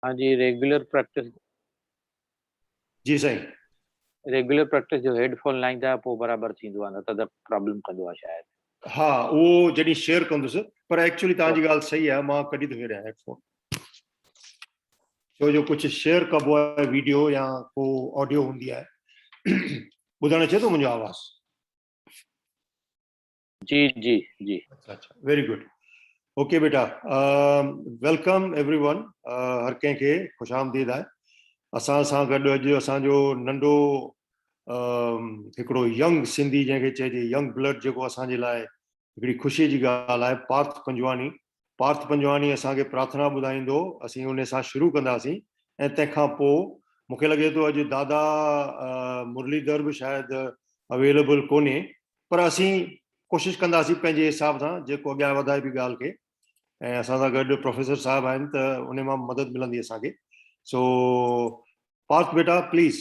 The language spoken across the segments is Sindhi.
ھا جي ريگيولر پريڪٽس. جي سائين. ريگيولر پريڪٽس جو ھيڊ فون لائيندا پو برابر ٿيندو آ نه ته ته پرابلم ڪندو آ شايد. ھا اھو جڏھين شيئر ڪندس پر ايڪچولي توھان جي ڳالھ صحيح آ مان ڪڍي ٿو ڇڏيان ھيڊ فون ڇو جو ڪجھ شيئر ڪبو آ ويڊيو يا ڪو آڊيو ھوندي آ ٻڌڻ اچي ٿو منھنجو آواز. جي جي جي اچھا اچھا ويري گڊ اوڪي بيٽا ويلڪم ايوري ون هر ڪنهن کي خوش آمديد آهي اسان سان گڏ اڄ اسان جو ننڍو هڪڙو ينگ سنڌي جنهن کي چئجي ينگ بلڊ جيڪو اسان جي لاء هڪڙي خوشي جي ڳالهه آهي پارٿ پنجواني پارٿ پنجواڻي اسان کي پرارٿنا ٻڌائيندو اسين انهي سان شروع ڪنداسين ۽ تنهن کان پوء مون کي لڳي ٿو اڄ دادا مرليڌر به شايد اويليبل ڪونهي پر اسين ڪوشش ڪنداسين پنهنجي حساب سان جيڪو اڳيان وڌائي به ڳالهه کي ۽ اسان سان گڏ پروفيسر صاحب آهن ته انهي مان مدد ملندي اسان کي سو پارٿ بيٽا پليز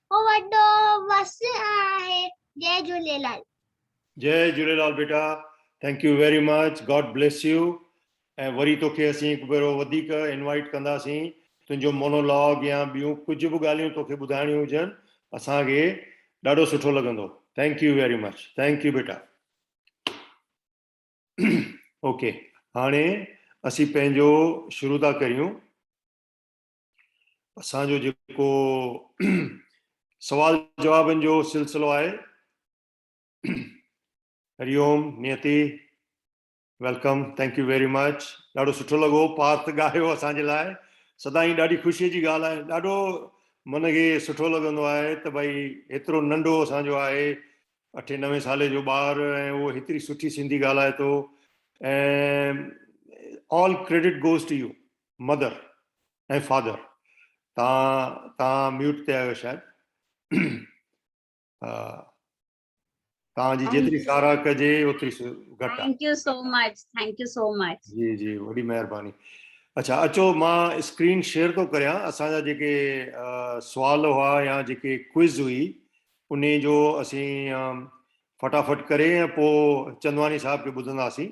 هو وڏو وس آهي جئي جهوليلال. جئي جهوليلال بيٽا thank you very much god bless you ۽ وري توکي اسين هڪ ڀيرو وڌيڪ انوائيٽ ڪنداسين تنهنجو مونو لاگ يا ٻيون ڪجهه به ڳالهيون توکي ٻڌائڻيون هجن اسان کي ڏاڍو سٺو لڳندو thank you very much thank you بيٽا اوڪي هاڻي اسين پنهنجو شروع ٿا ڪريون. اسان جو جيڪو سوال جوابن جو سلسلو آهي Hariom Neeti welcome thank you very much ڏاڍو سٺو لڳو پارت ڳايو اسان جي لاء سدائين ڏاڍي خوشي جي ڳالهه آهي ڏاڍو من کي سٺو لڳندو آهي ته ڀائی هيترو ننڍو اسان جو آهي اٺين نوين سالي جو ٻار ۽ اهو هيتري سٺي سنڌي ڳالهائي ٿو ۽ all credit goes to you mother ۽ father تان تان ميوٽ تي آيو شايد تان جي جيتري سارا ڪجي اوتري گھٽ thank you so much thank you so much جي جي وڏي مهرباني اچھا اچو مان اسڪرين شيئر ٿو ڪريان اسان جا جيڪي سوال هئا يا جيڪي ڪوئز هئي ان جو اسين فٽافٽ ڪري ۽ پوء چندواني صاحب کي ٻڌنداسين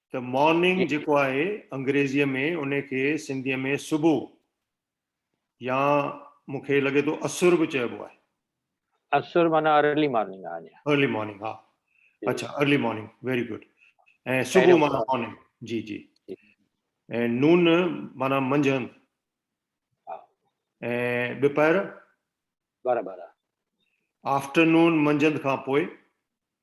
ته مارننگ جيڪو آهي انگريزيء ۾ ان کي سنڌيء ۾ صبح يا مون کي لڳي ٿو اسر به چئبو آهي. اسر معنيٰ ارلي مارننگ آهي. ارلي مارننگ ها اڇا ارلي مارننگ ويري گڊ ۽ صبح معنيٰ مارننگ جي جي ۽ نون معنيٰ منجهند ۽ ٻپهر برابر آفٽرنون منجهند کان پوء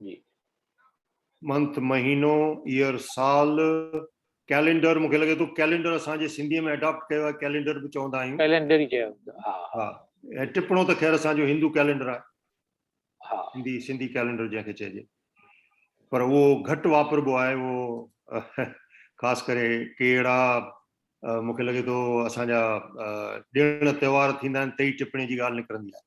جي منٿ مهينو ييئر سال ڪيلينڊر مونکي لڳي ٿو ڪيلينڊر اسان جي سنڌي ۾ اڊاپٽ ڪيو آهي ڪيلينڊر به چوندا آهيون ڪيلينڊر ئي چيو ها ها ۽ ٽپڻو ته خير اسان جو هندو ڪيلينڊر آهي ها سنڌي سنڌي ڪيلينڊر جنهن کي چئجي پر اهو گهٽ واپربو آهي اهو خاص ڪري ڪهڙا مونکي لڳي ٿو اسان جا ڏيڻ تهوار ٿيندا آهن تي ئي ٽپڻي جي ڳالهه نڪرندي آهي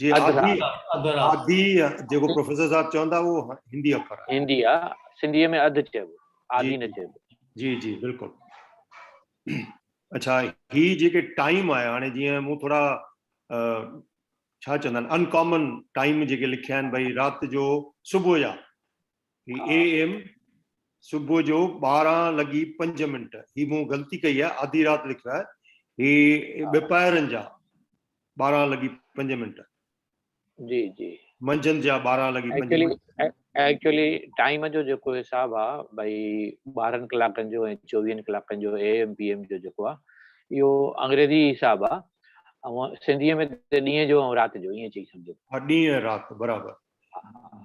جي آڌي آڌي جيڪو پروفيسر صاحب چوندا هو هندي اکر هندي آ سنڌي ۾ اڌ چيبو آڌي نه چيبو جي جي بلڪل اچھا هي جيڪي ٽائيم آهي هاڻي جيئن مون ٿورا ڇا چوندا آهن انڪامن ٽائيم جيڪي لکيا آهن ڀئي رات جو صبح جا هي اي ايم صبح جو ٻارهن لڳي پنج منٽ هي مون غلطي ڪئي آهي آڌي رات لکيو آهي هي ٻپائرن جا ٻارهن لڳي پنج منٽ جي جي منجهند جا ٻارهن لڳي پنج منٽ ايڪچولي ٽائيم جو جيڪو حساب آ ڀائی ٻارهن ڪلاڪن جو ۽ چوويهن ڪلاڪن جو اي ايم پي ايم جو جيڪو آ اهو انگريزي حساب آ ۽ سنڌي ۾ ڏينهن جو ۽ رات جو ائين چئي سمجهو ڏينهن رات برابر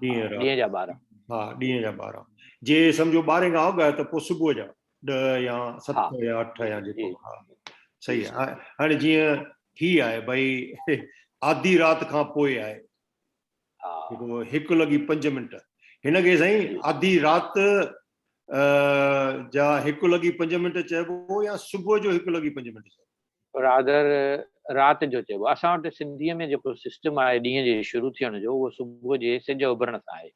ڏينهن جا ٻارهن ها ڏينهن جا ٻارهن جي سمجهو ٻارهن کان اڳ آهي ته پوء صبح جا ڏهه يا ست يا اٺ يا جيڪو صحيح آهي هاڻي جيئن هي آهي ڀئي آڌي رات کان پوء آهي جيڪو هڪ لڳي پنج منٽ هن کي سائين آڌي رات جا هڪ لڳي پنج منٽ چئبو يا صبح جو هڪ لڳي پنج منٽ چئبو رادر رات جو چئبو آهي. اسان وٽ سنڌيء ۾ جيڪو سسٽم آهي ڏينهن جي شروع ٿيڻ جو اهو صبح جي سج اڀرڻ سان آهي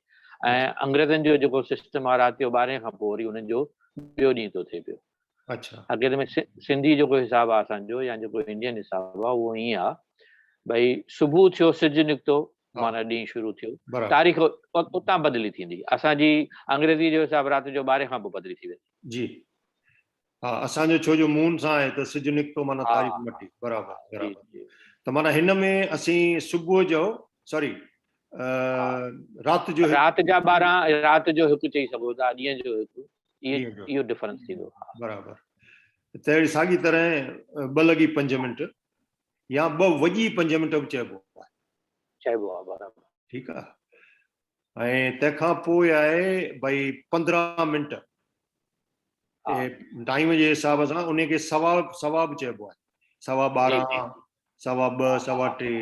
۽ انگريزن جو جيڪو سسٽم آهي رات جو ٻارهين کان پوء وري انهن جو ٻيو ڏينهن ٿو ٿئي پيو. حقيقت ۾ سنڌي جيڪو حساب آهي اسان جو يا جيڪو انڊين حساب آهي اهو ائين آهي ڀئي صبح ٿيو سج نڪتو معنيٰ ڏينهن شروع ٿيو تاريخ اتان بدلي ٿيندي اسان جي انگريزي جو حساب رات جو ٻارهين کان پوء بدلي ٿي ويندي. ها اسان جو ڇو جو مون سان آهي ته سج نڪتو معنيٰ تاريخ مٽي برابر برابر ته معنيٰ هن ۾ اسين صبح جو سوري رات جو رات جا 12 رات جو هڪ چئي سگهو ٿا ڏينهن جو هڪ اهو ڊفرنس ٿيندو برابر ته اهڙي ساڳي طرح ٻه لڳي پنج منٽ يا ٻه وڄي پنج منٽ به چئبو چئبو آهي برابر ٺيڪ آهي ۽ تنهن کان پوء آهي ڀئي پندرهن منٽ ٽائيم جي حساب سان ان کي سوا سوا به چئبو آهي سوا ٻارهن سوا ٻه سوا ٽي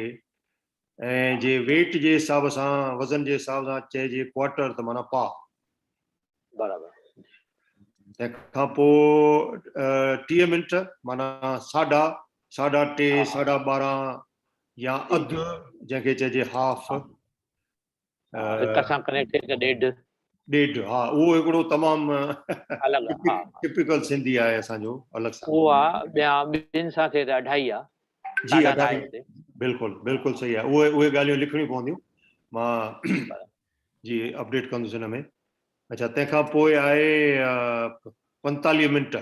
۽ جي ويٽ جي حساب سان وزن جي حساب سان چئجي ڪوارٽر ته معنيٰ پاء برابر تنهن کان پوء ٽيهه منٽ معنيٰ ساڍا ساڍا ٽي ساڍا ٻارهن يا اڌ جنهن کي چئجي هاف هڪ سان ڪنيڪٽيڊ ته ڏيڍ ڏيڍ ها اهو هڪڙو تمام الڳ ها ٽپيڪل سنڌي آهي اسان جو الڳ سان اهو آ ٻيا ٻن سان ٿئي ته اڍائي آ جي اڍائي بلڪل بلڪل صحيح آ اهي اهي ڳالهيون لکڻيون پونديون مان جي اپڊيٽ ڪندس ان ۾ اچھا تنهن کان پوء آهي 45 منٽ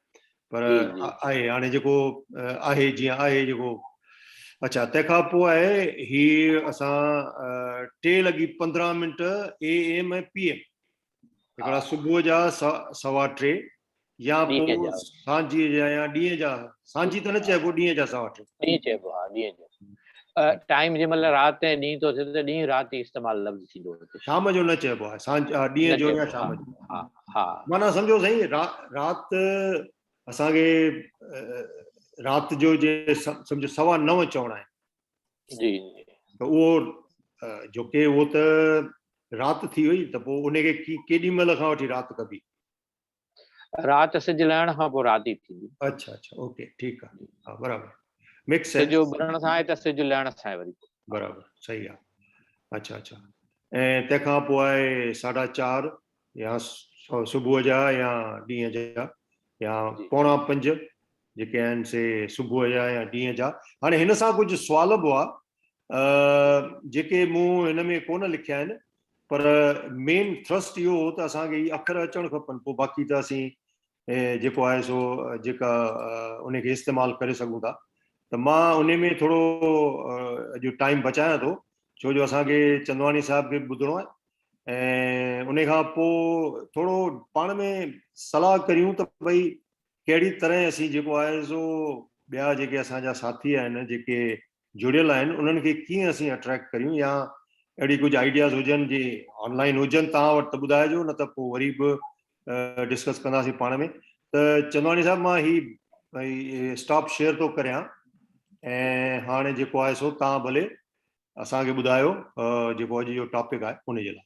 پر آهي هاڻي جيڪو آهي جيئن آهي جيڪو اڇا تنهن کان پوء آهي هي اسان ٽي لڳي پندرهن minute A M ۽ P M هڪڙا صبح جا سوا ٽي يا پوء سانجي جا يا ڏينهن جا سانجي ته نه چئبو ڏينهن جا سوا ٽي ڏينهن چئبو ها ڏينهن جو ٽائيم جي مطلب رات ۽ ڏينهن تو ٿي ته ڏينهن رات استعمال لفظ ٿيندو شام جو نه چئبو آهي سانجي ڏينهن جو يا شام جو معنيٰ سمجهو سائين رات اسان کي رات جو جي سمجهو سوا نو چوڻا آهن جي ته اهو جو ڪي اهو ته رات ٿي وئي ته پوء ان کي ڪيڏي مهل کان وٺي رات ڪبي رات سج لهڻ کان پوء رات ئي ٿيندي اچھا اچھا اوڪي ٺيڪ آهي ها برابر مڪس سج اڀرڻ سان آهي ته سج لهڻ سان آهي وري برابر صحيح آهي اچھا اچھا ۽ تنهن کان پوء آهي ساڍا چار يا صبح جا يا ڏينهن جا يا پوڻا پنج جيڪي آهن سي صبح جا يا ڏينهن جا هاڻي هن سان ڪجهه سوال به هئا جيڪي مون هن ۾ ڪونه لکيا آهن پر مين ٿرسٽ اهو هو ته اسان کي اکر اچڻ کپن پوء باقي ته اسين جيڪو آهي سو جيڪا ان کي استعمال ڪري سگهون ٿا ته مان ان ۾ ٿورو اڄ ٽائيم بچايان ٿو ڇو جو اسان کي چندواڻي صاحب کي ٻڌڻو آهي ۽ ان کان پوء ٿورو پاڻ ۾ صلاح ڪريون ته ڀئي ڪهڙي طرح اسين جيڪو آهي سو ٻيا جيڪي اسان جا ساٿي آهن جيڪي جڙيل آهن انهن کي ڪيئن اسين اٽريڪٽ ڪريون يا اهڙي ڪجهه آئيڊياز هجن جي آن لائن هجن توهان وٽ ته ٻڌائجو نه ته پوء وري به ڊسڪس ڪنداسين پاڻ ۾ ته چندواڻي صاحب مان هي اسٽاپ شيئر ٿو ڪريان ۽ هاڻي جيڪو آهي سو تان ڀلي اسان کي ٻڌايو جيڪو اڄ جو ٽاپڪ آهي ان جي لاء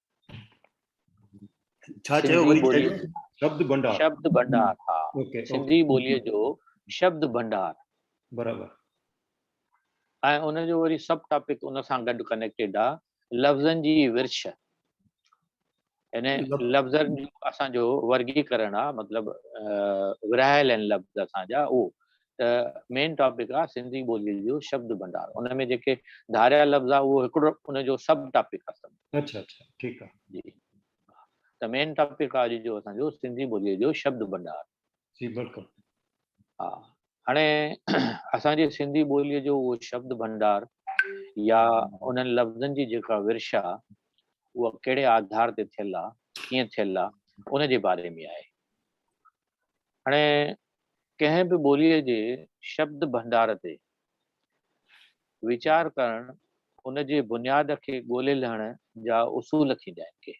ڇا چيو وري چئجو شبد ڀنڊار شبد ڀنڊار ها سنڌي ٻولي جو شبد ڀنڊار برابر ۽ ان جو وري سب ٽاپڪ ان سان گڏ ڪنيڪٽيڊ آ لفظن جي ورڇ يعني لفظن جو اسان جو ورگي ڪرڻ آ مطلب ورايل ان لفظ اسان جا او ته مين ٽاپڪ آ سنڌي ٻوليء جو شبد ڀنڊار ان ۾ جيڪي ڌاريا لفظ آ اهو هڪڙو ان جو سب ٽاپڪ آ سمجهو اڇا اڇا ٺيڪ آ جي ته مين ٽاپڪ آ اڄ جو اسان جو سنڌي ٻوليء جو شبد ڀنڊار جي بلڪل ها هاڻي اسان جي سنڌي ٻوليء جو اهو شبد ڀنڊار يا انهن لفظن جي جيڪا ورشا اها ڪهڙي آڌار تي ٿيل آ ڪيئن ٿيل آ ان جي باري ۾ آهي هاڻي ڪنهن به ٻوليء جي شبد ڀنڊار تي ويچار ڪرڻ ان جي بنياد کي ڳولي لهڻ جا اصول ٿيندا آهن ڪي.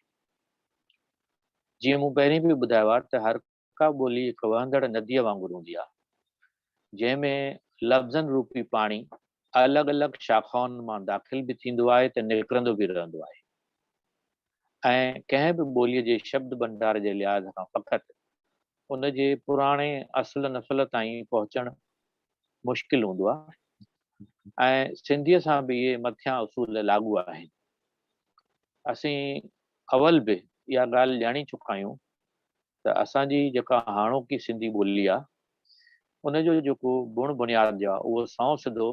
جيئن مون پهرين به ٻڌايو آهي ته هرڪا ٻولي هڪ وهندڙ نديء وانگر هوندي آهي جنهن ۾ لفظن روپي پاڻي الڳ الڳ شاخائن مان داخل به ٿيندو آهي ته نڪرندو به رهندو آهي ۽ ڪنهن به ٻوليء جي شبد ڀنڊار جي لحاظ کان فقط ان جي پراڻي اصل نسل تائين پهچڻ مشڪل هوندو آهي ۽ سنڌيء سان به اهي مٿيان اصول لاڳو آهن اسين اول به اها ڳالهه ڄاڻي چڪا آهيون ته اسان جي جيڪا هاڻوڪي سنڌي ٻولي آهي ان جو جيڪو بڻ بنياد جو آهي اهو سنئون سڌو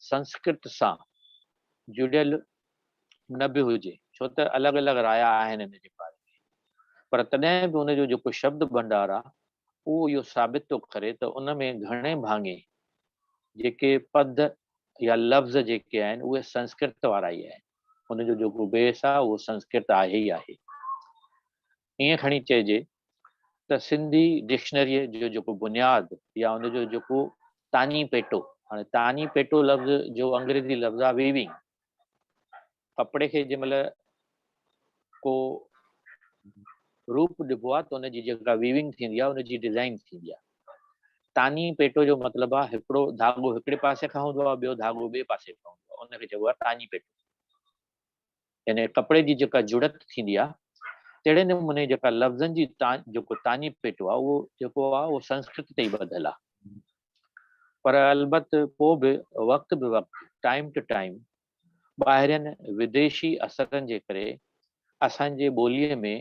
سنسڪرت سان جڙيل نه به هجي ڇو ته الڳ الڳ رايا آهن ان جي باري ۾ پر تڏهن به ان جو جيڪو شبد ڀنڊار آهي اهو اهو ثابت ٿو ڪري ته ان ۾ گهڻي ڀاڱي جيڪي پد يا لفظ جيڪي آهن اهي سنسڪرت وارا ئي آهن ان جو جيڪو بيس آهي اهو سنسڪرت آهي ئي آهي. ائين کڻي چئجي ته سنڌي ڊڪشنريء جو جيڪو بنياد يا ان جو جيڪو تاڃي پيٽو، هاڻي تاڃي پيٽو لفظ جو انگريزي لفظ آهي Weaving، ڪپڙي کي جنهن مهل ڪو روپ ڏبو آهي ته ان جي جيڪا Weaving ٿيندي آهي ان جي ڊزائين ٿيندي آهي. تاڃي پيٽو جو مطلب آهي هڪڙو ڌاڳو هڪڙي پاسي کان هوندو آهي ٻيو ڌاڳو ٻئي پاسي کان هوندو آهي ان کي چئبو آهي تاڃي پيٽو. يعني ڪپڙي جي جيڪا جڙت ٿيندي آ تهڙي نموني جيڪا لفظن جي جيڪو تاڃي پيٽو آ اهو جيڪو آ اهو سنسڪرت تي ئي ٻڌل آ پر البت پوء به وقت به وقت ٽائيم ٽو ٽائيم ٻاهرين وديشي اثرن جي ڪري اسان جي ٻوليء ۾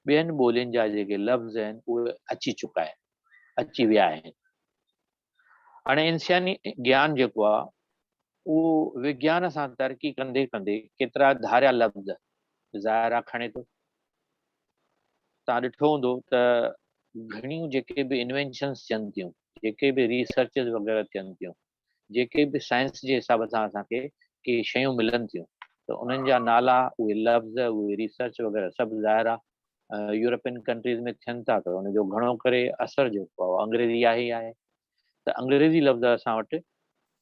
ٻين ٻولين جا جيڪي لفظ آهن اهي اچي چڪا آهن اچي ويا آهن هاڻي انساني گيان جيڪو آهي اهو وگيان سان ترقي ڪندي ڪندي ڪيترا ڌاريا لفظ ظاهرا کڻي ٿو. تان ڏٺو هوندو ته گهڻيون جيڪي به انوينشنس ٿين ٿيون، جيڪي به ريسرچز وغيره ٿين ٿيون، جيڪي به سائنس جي حساب سان اسان کي ڪي شيون ملن ٿيون ته انهن جا نالا، اهي لفظ، اهي ريسرچ وغيره سڀ ظاهرا يورپين ڪنٽريز ۾ ٿين ٿا ته ان جو گهڻو ڪري اثر جيڪو آهي اهو انگريزي آهي ئي آهي ته انگريزي لفظ اسان وٽ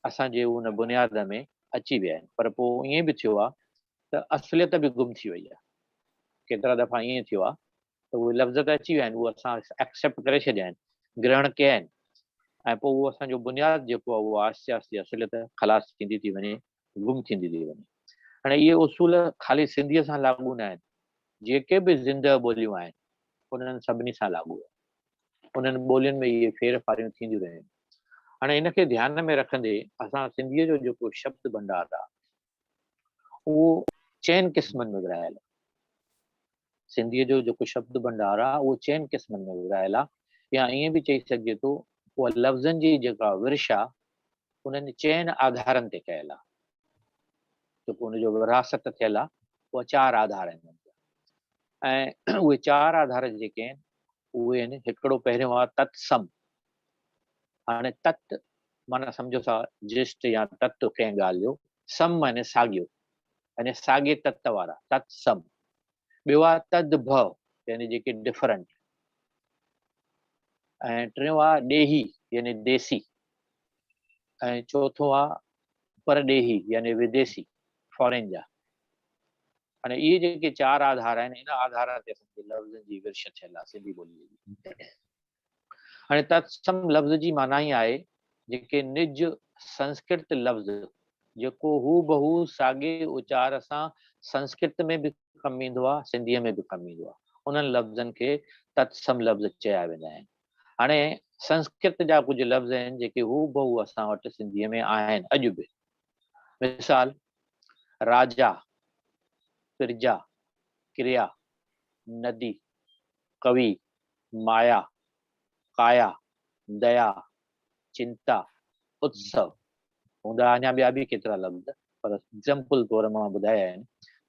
اسان جي ان بنياد ۾ اچي ويا آهن پر پوء ائين به ٿيو آهي ته اصليت به گم ٿي وئي آهي ڪيترا دفعا ائين ٿيو آهي ته اهي لفظ ته اچي ويا آهن اهو اسان ايڪسيپٽ ڪري ڇڏيا آهن گرهڻ ڪيا آهن ۽ پوء اهو اسان جو بنياد جيڪو آهي اهو آهستي آهستي اصليت خلاص ٿيندي ٿي وڃي گم ٿيندي ٿي وڃي. هاڻي اهي اصول خالي سنڌيء سان لاڳو نه آهن، جيڪي به زندهه ٻوليون آهن، انهن سڀني سان لاڳو آهن. انهن ٻولين ۾ اهي ڦير ڦاريون ٿينديون رهيون. هاڻي ان کي ڌيان ۾ رکندي اسان سنڌيء جو جيڪو شبد ڀنڊار آهي، اهو چئن قسمن ۾ ورهايل آهي. سنڌيء جو جيڪو شبد ڀنڊار آهي اهو چئن قسمن ۾ ورهايل آهي يا ائين به چئي سگهجي ٿو اها لفظن جي جيڪا ورش آهي انهن چئن آڌارن تي ڪيل آهي جيڪو ان جو ورهاست ٿيل آهي اها چار آڌار آهن ۽ اهي چار آڌار جيڪي آهن اهي آهن هڪڙو پهريون آهي تتسم هاڻي تت معنيٰ سمجهو ٿا جسٽ يا تت ڪنهن ڳالهه جو، سم معنيٰ ساڳيو، يعني ساڳي تت وارا، تت سم. ٻيو آ تد ڀ يعني جيڪي ڊفرنٽ. ۽ ٽيون آ ڏيهي يعني ديسي. ۽ چوٿون آ پرڏيهي يعني وديسي، فارين جا. هاڻي اهي جيڪي چار آڌار آهن، ان آڌارن تي اسان جي لفظن جي ورڇ ٿيل آ سنڌي ٻوليء جي. هاڻي تتسم لفظ جي معنيٰ ئي آهي جيڪي نج سنسڪرت لفظ جيڪو هوبهو ساڳي اچار سان سنسڪرت ۾ به ڪم ايندو آهي سنڌيء ۾ به ڪم ايندو آهي انهن لفظن کي تتسم لفظ چيا ويندا آهن هاڻي سنسڪرت جا ڪجهه لفظ آهن جيڪي هوبهو اسان وٽ سنڌيء ۾ آهن اڄ به مثال راجا پرجا ڪريا ندي ڪوي مايا، ڪايا، ديا، چنتا، اتسو، هوندا اڃا ٻيا به ڪيترا لفظ پر ايگزامپل طور مان ٻڌايا آهن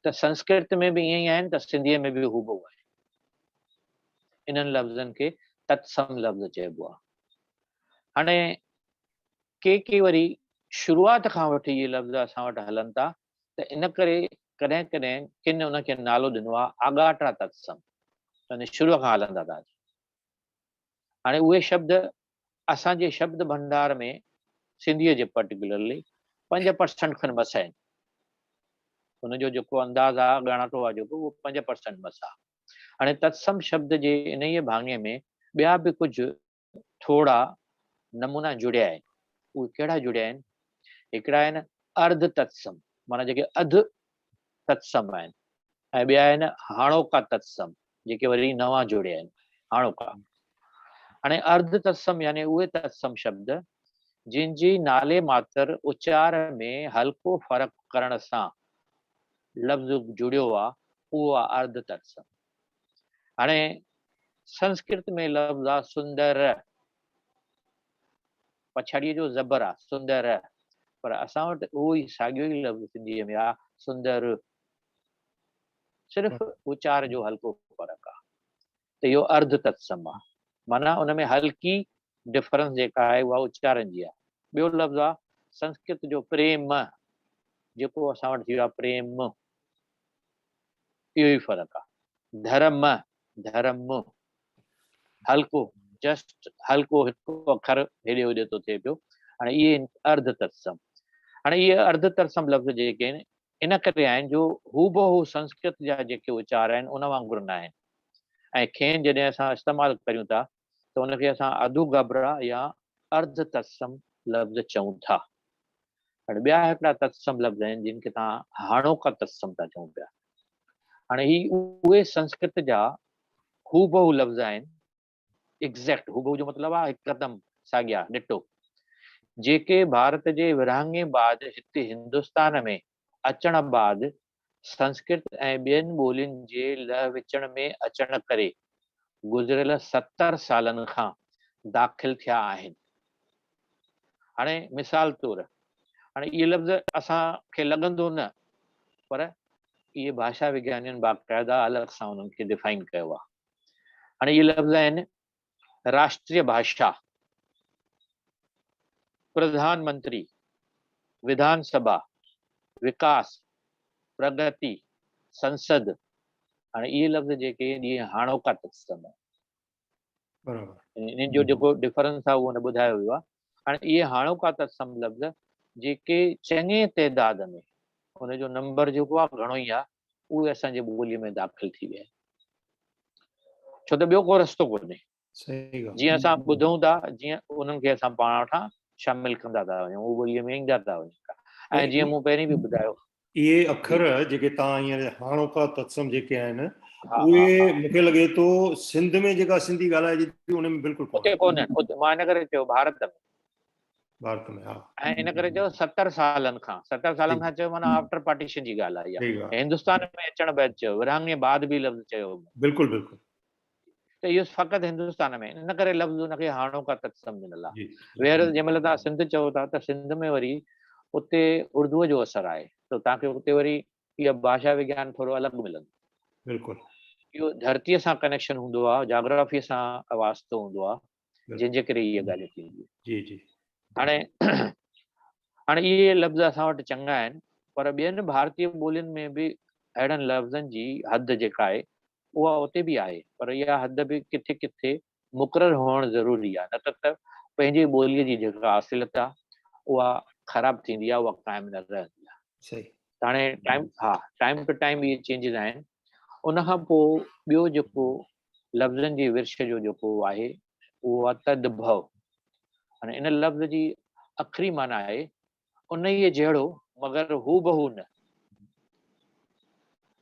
ته سنسڪرت ۾ به ائين ئي آهن ته سنڌيء ۾ به هوبهو آهن. انهن لفظن کي تتسم لفظ چئبو آهي. هاڻي ڪي ڪي وري شروعات کان وٺي اهي لفظ اسان وٽ هلن ٿا ته ان ڪري ڪڏهن ڪڏهن ڪن ان کي نالو ڏنو آهي آڳاٽا تتسم يعني شروع کان هلندا ٿا اچن. هاڻي اهي شبد اسان جي شبد ڀنڊار ۾ سنڌيء جي پرٽيڪولرلي پنج پرسنٽ کن مس آهن. ان جو جيڪو انداز آهي اڳاڻاٽو آهي جيڪو اهو پنج پرسنٽ مس آهي. هاڻي تتسم شبد جي انهيء ڀاڱي ۾ ٻيا به ڪجهه ٿورا نمونا جڙيا آهن، اهي ڪهڙا جڙيا آهن؟ هڪڙا آهن ارڌ تتسم معنيٰ جيڪي اڌ تتسم آهن ۽ ٻيا آهن هاڻوڪا تتسم جيڪي وري نوان جڙيا آهن، هاڻوڪا. هاڻي ارڌ تتسم يعني اهي تتسم شبد جن جي نالي ماتر اچار ۾ هلڪو فرق ڪرڻ سان لفظ جڙيو آهي، اهو آهي ارڌ تتسم. هاڻي سنسڪرت ۾ لفظ آ سندر پڇاڙيء جو زبر آ سندر پر اسان وٽ اهو ئي ساڳيو ئي لفظ سنڌيء ۾ آ سندر صرف اچار جو هلڪو فرق آ ته اهو ارڌ تتسم آ معنيٰ ان ۾ هلڪي ڊفرنس جيڪا آهي اها اچارن جي آ ٻيو لفظ آ سنسڪرت جو پريم جيڪو اسان وٽ ٿي ويو آ پريم اهو ئي فرق آ. ڌرم، ڌرم، هلڪو، جسٽ هلڪو هڪ اکر هيڏي هوڏي ٿو ٿئي پيو. هاڻي اهي آهن ارڌ ترسم. هاڻي اهي ارڌ ترسم لفظ جيڪي آهن، ان ڪري آهن جو هوبهو سنسڪرت جا جيڪي اچار آهن، ان وانگر ناهن ۽ کين جڏهن اسان استعمال ڪريون ٿا ته ان کي اسان اڌو گهبرا يا ارڌ تتسم لفظ چئون ٿا. هاڻي ٻيا هڪڙا تتسم لفظ آهن جن کي توهان هاڻوڪا تتسم ٿا چئون پيا. هاڻي هي اهي سنسڪرت جا هوبهو لفظ آهن، Exact، هوبهو جو مطلب آهي هڪدم ساڳيا، Ditto، جيڪي ڀارت جي ورهاڱي بعد هتي هندستان ۾ اچڻ بعد سنسڪرت ۽ ٻين ٻولين جي لهه وچڻ ۾ اچڻ ڪري گذريل ستر سالن کان داخل ٿيا آهن. هاڻي مثال طور هاڻي اهي لفظ اسان کي لڳندو نه پر اهي ڀاشا وگيانين باقاعده الڳ سان انهن کي ڊفائن ڪيو آهي. هاڻي اهي لفظ آهن راشٽريه ڀاشا، پرڌان منتري، وڌان سڀا، وڪاس، پرڳتي، سنسد، هاڻي اهي لفظ جيڪي اهي هاڻوڪا تسلم آهن. برابر. انهن جو جيڪو ڊفرنس آهي اهو هن ٻڌايو ويو آهي. هاڻي اهي هاڻوڪا تسلم لفظ جيڪي چڱي تعداد ۾ ان جو نمبر جيڪو آهي گهڻو ئي آهي اهي اسان جي ٻولي ۾ داخل ٿي ويا ڇو ته ٻيو ڪو رستو ڪونهي جيئن اسان ٻڌون ٿا جيئن انهن کي اسان پاڻ وٽان شامل ڪندا ٿا وڃون اهو ٻوليء ۾ ايندا ٿا وڃن ٿا ۽ جيئن مون پهرين به ٻڌايو اهي اکر جيڪي توهان هينئر هاڻوڪا تتسم جيڪي آهن اهي مون کي لڳي ٿو سنڌ ۾ جيڪا سنڌي ڳالهائجي ٿي ان ۾ بلڪل ڪونهي مان ان ڪري چيو ڀارت ۾ ڀارت ۾ ها. ۽ ان ڪري چيو ستر سالن کان ستر سالن کان چيو معنيٰ آفٽر پارٽيشن جي ڳالهه آهي اها ۽ هندستان ۾ اچڻ بعد چيو ورهاڱي بعد به لفظ چيو هو بلڪل بلڪل ته اهو فقط هندستان ۾ ان ڪري لفظ ان کي هاڻوڪا تتسم ڏنل آهي ويهر جنهن مهل تها سنڌ چئو ٿا ته سنڌ ۾ وري اتي اردوء جو اثر آهي ته تها کي اتي وري اها ڀاشا وگيان ٿورو الڳ ملندو بلڪل اهو ڌرتيء سان ڪنيڪشن هوندو آهي جاگرافيء سان واسطو هوندو آهي جن جي ڪري اهي ڳالهيون ٿينديون جي جي هاڻي هاڻي اهي لفظ اسان وٽ چڱا آهن پر ٻين ڀارتي ٻولين ۾ به اهڙن لفظن جي حد جيڪا آهي اها اتي به آهي پر اها حد به ڪٿي ڪٿي مقرر هئڻ ضروري آهي نه ته پنهنجي ٻوليء جي جيڪا اصليت آهي اها خراب ٿيندي آهي اها قائم نه رهندي آهي صحيح هاڻي ٽائيم ها ٽائيم ٽو ٽائيم اهي چينجز آهن ان کان پوء ٻيو جيڪو لفظن جي ورڇ جو جيڪو آهي اهو آهي تدڀو يعني ان لفظ جي اکري معنيٰ آهي انهيء جهڙو مگر هوبهو نه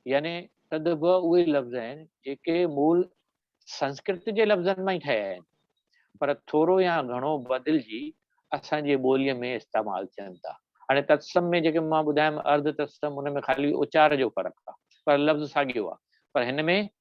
يعني تدڀو اهي لفظ آهن جيڪي مول سنسڪرت جي لفظن مان ئي ٺهيا آهن پر ٿورو يا گهڻو بدلجي اسان جي ٻوليء ۾ استعمال ٿين ٿا هاڻي تتسم ۾ جيڪي مان ٻڌايم ارڌ تتسم ان ۾ خالي اچار جو فرق آهي پر لفظ ساڳيو آهي پر هن ۾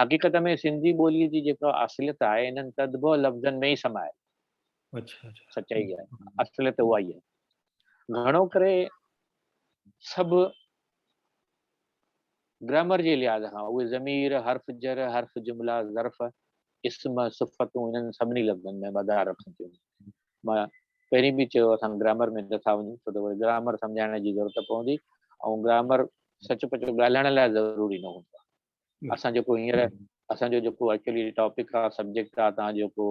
حقيقت ۾ سنڌي ٻوليء جي جيڪا اصليت آهي، انهن تدبوء لفظن ۾ ئي سمايل سچائي آهي. اصليت اها ئي آهي. گهڻو ڪري سڀ گرامر جي لحاظ کان اهي ضمير، حرف جر، حرف جملا، ظرف، اسم، صفتون انهن سڀني لفظن ۾ مدار رکن ٿيون. مان پهرين به چيو اسان گرامر ۾ نٿا وڃون ڇو ته وري گرامر سمجهائڻ جي ضرورت پوندي ۽ گرامر سچ پچ ڳالهائڻ لاء ضروري نه هوندو آهي اسان جيڪو هينئر اسان جو جيڪو ايڪچولي ٽاپڪ آهي سبجيڪٽ آهي تان جيڪو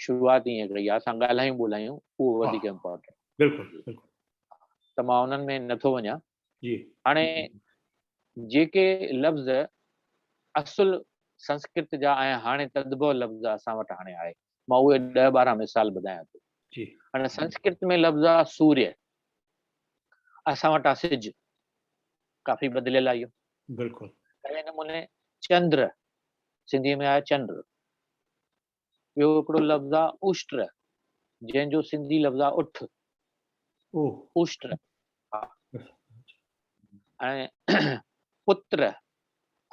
شروعات ائين ڪئي آهي اسان ڳالهايون ٻولهايون اهو وڌيڪ امپورٽنٽ بلڪل بلڪل ته مان انهن ۾ نٿو وڃان جي هاڻي جيڪي لفظ اصل سنسڪرت جا ۽ هاڻي تدبو لفظ اسان وٽ هاڻي آهي مان اهي ڏهه ٻارهن مثال ٻڌايان ٿو جي هاڻي سنسڪرت ۾ لفظ آ سوري اسان وٽ آ سج ڪافي بدليل آهي بلڪل اهڙي نموني چندر سنڌي ۾ آهي چنڊ ٻيو هڪڙو لفظ آ اوشٽر جنهن جو سنڌي لفظ آ اٺ اوشٽر ۽ پتر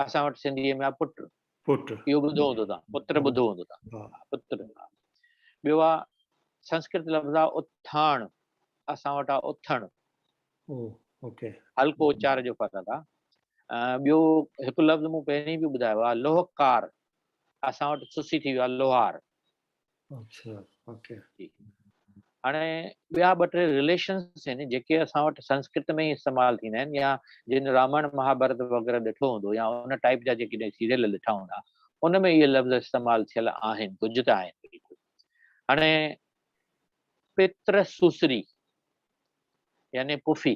اسان وٽ سنڌي ۾ آ پٽ پٽ اهو ٻڌو هوندو تان پتر ٻڌو هوندو تان پتر ٻيو آ سنسڪرت لفظ آ اٿاڻ اسان وٽ آ اٿڻ اوڪي هلڪو اچار جو فرق آ ٻيو هڪ لفظ مون پهرين به ٻڌايو آ لوهڪار اسان وٽ سسي ٿي ويو آهي لوهار اچھا اوڪي هاڻي ٻيا ٻه ٽي رليشنس آهن جيڪي اسان وٽ سنسڪرت ۾ ئي استعمال ٿيندا آهن يا جن رامائڻ مهاڀارت وغيره ڏٺو هوندو يا ان ٽائيپ جا جيڪي سيريل ڏٺا هوندا ان ۾ اهي لفظ استعمال ٿيل آهن ڪجهه ته آهن بلڪل هاڻي پتر سوسري يعني پڦي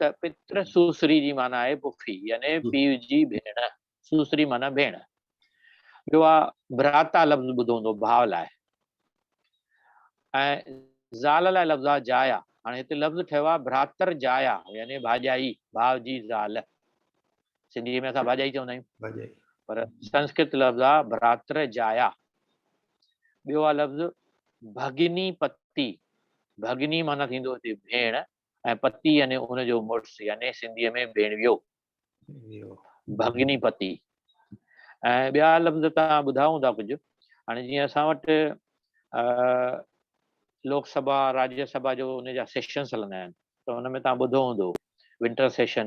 ته پتر سوسري جي معنيٰ آهي پڦي يعني پيء جي ڀيڻ سوسري معنيٰ ڀيڻ ٻيو آ ڀراتا لفظ ٻڌو هوندو ڀاء لاء ۽ زال لاء لفظ آ جايا هاڻي هتي لفظ ٺهيو آ ڀراتر جايا يعني ڀاڄائي ڀاء جي زال سنڌي ۾ اسان ڀاڄائي چوندا آهيون پر سنسڪرت لفظ آ ڀراتر جايا ٻيو آ لفظ ڀڳني پتي ڀڳني معنيٰ ٿيندو هتي ڀيڻ ۽ پتي يعني ان جو مڙس يعني سنڌيء ۾ ڀيڻويو، ڀڳني پتي ۽ ٻيا لفظ توهان ٻڌا هوندا ڪجهه. هاڻي جيئن اسان وٽ لوڪ سڀا، راجيه سڀا جو ان جا سيشنس هلندا آهن ته ان ۾ توهان ٻڌو هوندو ونٽر سيشن،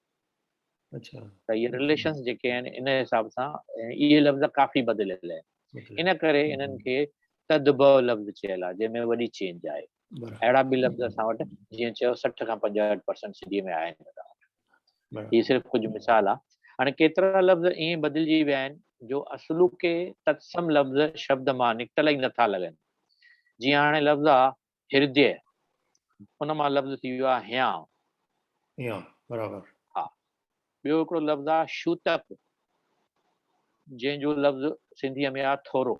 اچھا ته اهي رليشنس جيڪي آهن ان حساب سان اهي لفظ ڪافي بدليل آهن ان ڪري انهن کي تدبع لفظ چيل آهي جنهن ۾ وڏي چينج آهي اهڙا به لفظ اسان وٽ جيئن چيو سٺ کان پنجهٺ پرسنٽ سنڌي ۾ آهن هي صرف ڪجهه مثال آهي هاڻي ڪيترا لفظ ائين بدلجي ويا آهن جو اصلوڪي تتسم لفظ شبد مان نڪتل ئي نٿا لڳن جيئن هاڻي لفظ آهي هرديه، ان مان لفظ ٿي ويو آهي هيانء. هيانء، برابر. ها. ٻيو هڪڙو لفظ آهي شوتڪ، جنهن جو لفظ سنڌيء ۾ آهي ٿورو.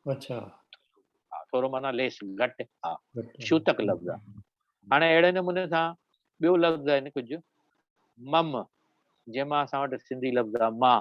اڇا. ها، ٿورو معنيٰ ليس، گهٽ. ها، شوتڪ لفظ آهي. هاڻي اهڙي نموني سان ٻيو لفظ آهن ڪجهه مم، جنهن مان اسان وٽ سنڌي لفظ آهي مان.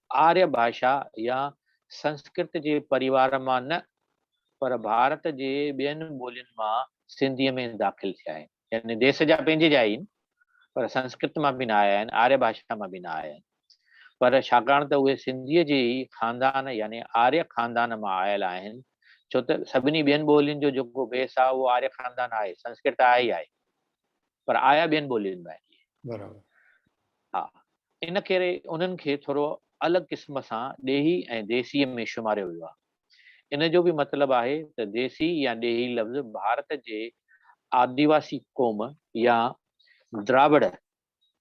آريا ڀاشا يا سنسڪرت جي پريوار مان نه پر ڀارت جي ٻين ٻولين مان سنڌيء ۾ داخل ٿيا آهن. يعني ديس جا پنهنجي جا ئي آهن پر سنسڪرت مان به نه آيا آهن، آريا ڀاشا مان به نه آيا آهن پر ڇاڪاڻ ته اهي سنڌيء جي ئي خاندان يعني آريا خاندان مان آيل آهن ڇو ته سڀني ٻين ٻولين جو جيڪو بيس آهي اهو آريا خاندان آهي، سنسڪرت آهي ئي آهي. پر آيا ٻين ٻولين مان آهن اهي. برابر. ها. ان ڪري انهن کي ٿورو الڳ قسم سان ڏيهي ۽ ديسيء ۾ شماريو ويو آهي. ان جو به مطلب آهي ته ديسي يا ڏيهي لفظ ڀارت جي آديواسي قوم يا دراوڙ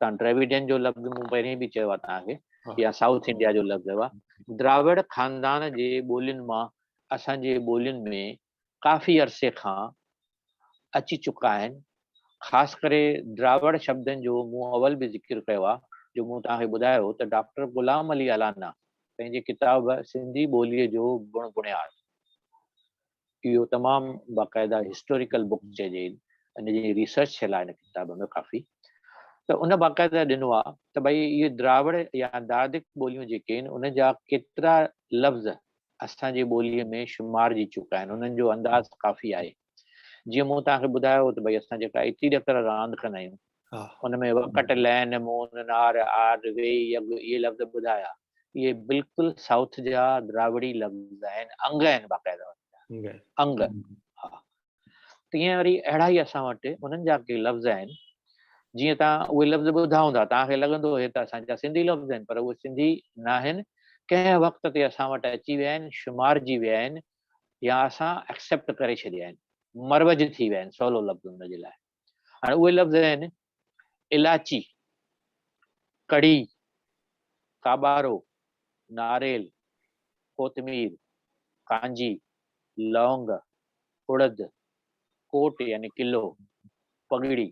تان ڊريويڊين جو لفظ مون پهرين به چيو آهي توهان کي يا سائوٿ انڊيا جو لفظ هئا دراوڙ خاندان جي ٻولين مان اسان جي ٻولين ۾ ڪافي عرصي کان اچي چڪا آهن، خاص ڪري دراوڙ شبدن جو مون اول به ذڪر ڪيو آهي جو مون توهان کي ٻڌايو هو ته ڊاڪٽر غلام علي الانا پنهنجي ڪتاب سنڌي ٻوليء جو بڻ بڻياد اهو تمام باقاعده هسٽوريڪل بڪ چئجي ان جي ريسرچ ٿيل آهي ان ڪتاب ۾ ڪافي ته ان باقاعده ڏنو آهي ته ڀئي اهي دراوڙ يا داردڪ ٻوليون جيڪي آهن ان جا ڪيترا لفظ اسان جي ٻوليء ۾ شمارجي چڪا آهن، انهن جو انداز ڪافي آهي. جيئن مون توهان کي ٻڌايو ته ڀئي اسان جيڪا ايتري ڏڪر راند ڪندا آهيون، ان ۾ وڪٽ، لين، مون، نار، آر، وي، يگ اهي لفظ ٻڌايا، اهي بلڪل سائوٿ جا دراوڙي لفظ آهن، انگ آهن باقاعده انهن جا، انگ، ها. تيئن وري اهڙا ئي اسان وٽ انهن جا ڪي لفظ آهن، جيئن توهان اهي لفظ ٻڌائون ٿا، توهان کي لڳندو هي ته اسان جا سنڌي لفظ آهن، پر اهي سنڌي ناهن، ڪنهن وقت تي اسان وٽ اچي ويا آهن، شمارجي ويا آهن يا اسان ايڪسيپٽ ڪري ڇڏيا آهن، مروج ٿي ويا آهن، سولو لفظ ان جي لاء. هاڻي اهي لفظ آهن الاچي، ڪڙهي، ڪاٻارو، ناريل، ڪوتمير، ڪانجي، لونگ، اڙد، ڪوٽ يعني قلعو، پڳڙي،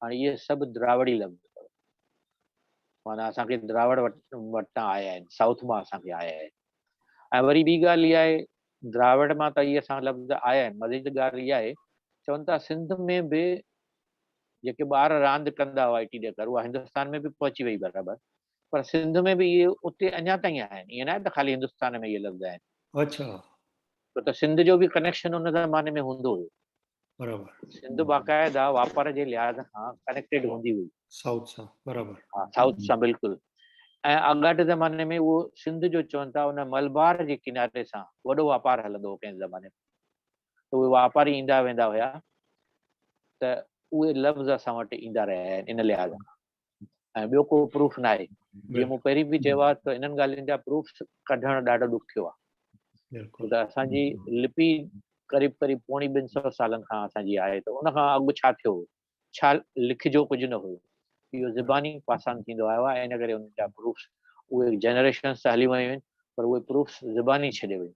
هاڻي اهي سڀ دراوڙي لفظ اٿو. معنيٰ اسان کي دراوڙ وٽان آيا آهن، سائوٿ مان اسان کي آيا آهن. ۽ وري ٻي ڳالهه اها آهي دراوڙ مان ته اهي سان لفظ آيا آهن. مزيد ڳالهه اها آهي، چون ٿا سنڌ ۾ به جيڪي ٻار راند ڪندا هئا ايٽي ڏيکر، اها هندستان ۾ به پهچي وئي برابر، پر سنڌ ۾ به اهي اتي اڃا تائين آهن، ائين ناهي ته خالي هندستان ۾ اهي لفظ آهن. اڇا. ڇو ته سنڌ جو به ڪنيڪشن ان زماني ۾ هوندو هيو. برابر. سنڌ باقاعده واپار جي لحاظ کان ڪنيڪٽيڊ هوندي هئي. سائوٿ سان برابر. ها سائوٿ سان بلڪل ۽ آڳاٽي زماني ۾ اهو سنڌ جو چون ٿا ان ملبار جي ڪناري سان وڏو واپار هلندو هو ڪنهن زماني ۾ ته اهي واپاري ايندا ويندا هيا ته اهي لفظ اسان وٽ ايندا رهيا آهن ان لحاظ کان. ۽ ٻيو ڪو پروف ناهي جيئن مون پهرين به چيو آهي ته انهن ڳالهين جا پروفس ڪڍڻ ڏاڍو ڏکيو آهي ته اسان جي لپي قريب قريب پوڻي ٻن سو سالن کان اسان جي آهي ته ان کان اڳ ڇا ٿيو هو ڇا لکجو ڪجهه نه هيو اهو زباني پاسان ٿيندو آيو آهي ان ڪري ان جا پروفس اهي جنريشنس ته هلي ويون آهن پر اهي پروفس زباني ڇڏي ويون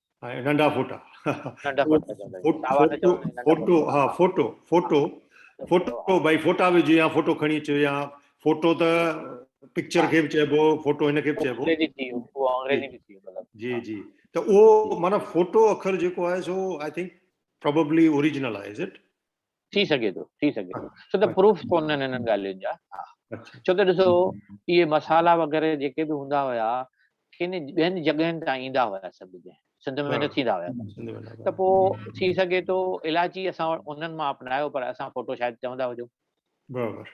۽ ننڍا ڦوٽا ننڍا ڦوٽا چوندا فوٽو ها فوٽو فوٽو فوٽو بھائی فوٽا وجھي يا فوٽو کڻي اچو يا فوٽو ته پڪچر کي به چئبو فوٽو هن کي به چئبو جي جي ته اهو معنی فوٽو اکر جيڪو آهي سو آء ٿنڪ پروببلي اوريجنل آهي از اٽ ٿي سگهي ٿو ٿي سگهي ٿو ڇو ته پروف ڪونهن انهن ڳالهين جا ڇو ته ڏسو اهي مصالحا وغيره جيڪي به هوندا هيا ڪن ٻين جڳهين تان ايندا هيا سڀ جنهن سنڌ ۾ نه ٿيندا هيا ته پوء ٿي سگهي ٿو الاچي اسان انهن مان اپنايو پر اسان فوٽو شايد چوندا هجون برابر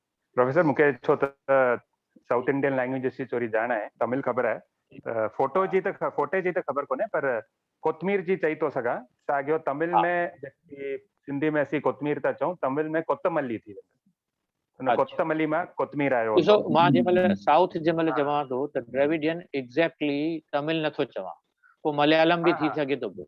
پروفيسر مون کي ڇو ته سائوٿ انڊين لينگويجز جي ٿوري ڄاڻ آهي تامل خبر آهي فوٽو جي ته فوٽي جي ته خبر ڪونهي پر ڪوتمير جي چئي ٿو سگهان ساڳيو تامل ۾ جيڪي سنڌي ۾ اسين ڪوتمير ٿا چئون تامل ۾ ڪوتملي ٿي ويندو ان ڪوتملي مان ڪوتمير آيو ڏسو مان جي مل سائوٿ جي مل چوان ٿو ته ڊريويڊين ايگزيڪٽلي تامل نٿو چوان پوء مليالم به ٿي سگهي ٿو پيو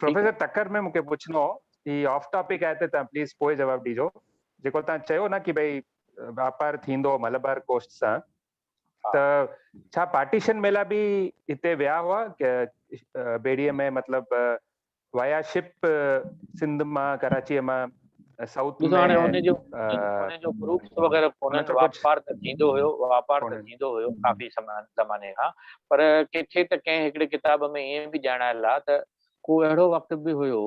پروفيسر ٽڪر ۾ مون کي پڇڻو هو هي آف ٽاپڪ آهي ته تان پليز پوء جواب ڏيجو جيڪو تان چيو نه ڪي ڀئي واپار ٿيندو ملبار ڪوسٽ سان ته ڇا پارٽيشن ميلا به هتي ويا هئا بيڙي ۾ مطلب ويا شپ سنڌ مان ڪراچي مان سائوٿ ۾ هاڻي هن جو هن جو گروپس وغيره ڪونهن جو واپار ته ٿيندو هيو واپار ته ٿيندو هيو ڪافي زماني کان پر ڪٿي ته ڪنهن هڪڙي ڪتاب ۾ ائين به ڄاڻايل آهي ته ڪو اهڙو وقت به هيو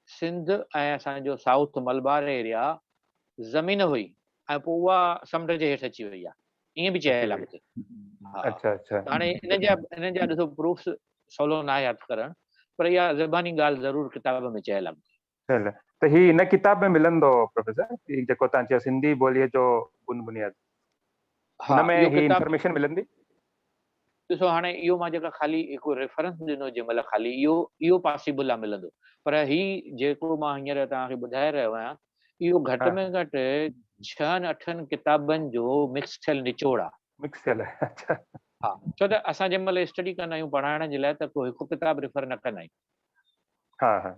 سنڌ ۽ اسان جو سائوٿ ملبار ايريا زمين هئي ۽ پوء اها سمنڊ جي هيٺ اچي وئي آهي ائين به چيل آهي ڪٿي اچا اچا هاڻي ان جا ان جا ڏسو پروفس سولو ناهي هٿ ڪرڻ پر اها زباني ڳالهه ضرور ڪتاب ۾ چيل آهي ڇل ته هي ان ڪتاب ۾ ملندو پروفيسر هي جيڪو تان چيو سنڌي ٻوليء جو بن بنياد ها ان ۾ اهو هي ڪتاب انفارميشن ملندي ڏسو هاڻي اهو مان جيڪا خالي هڪ ريفرنس ڏنو جنهن مهل خالي اهو اهو پاسيبل آهي ملندو پر هي جيڪو مان هينئر توهان کي ٻڌائي رهيو آهيان اهو گهٽ ها ۾ گهٽ ڇهن اٺن ڪتابن جو مڪس ٿيل نچوڙ آهي مڪس ٿيل آهي اڇا ها ڇو ته اسان جنهن مهل اسٽڊي ڪندا آهيون پڙهائڻ جي لاء ته ڪو هڪ ڪتاب ريفر نه ڪندا آهيون ها ها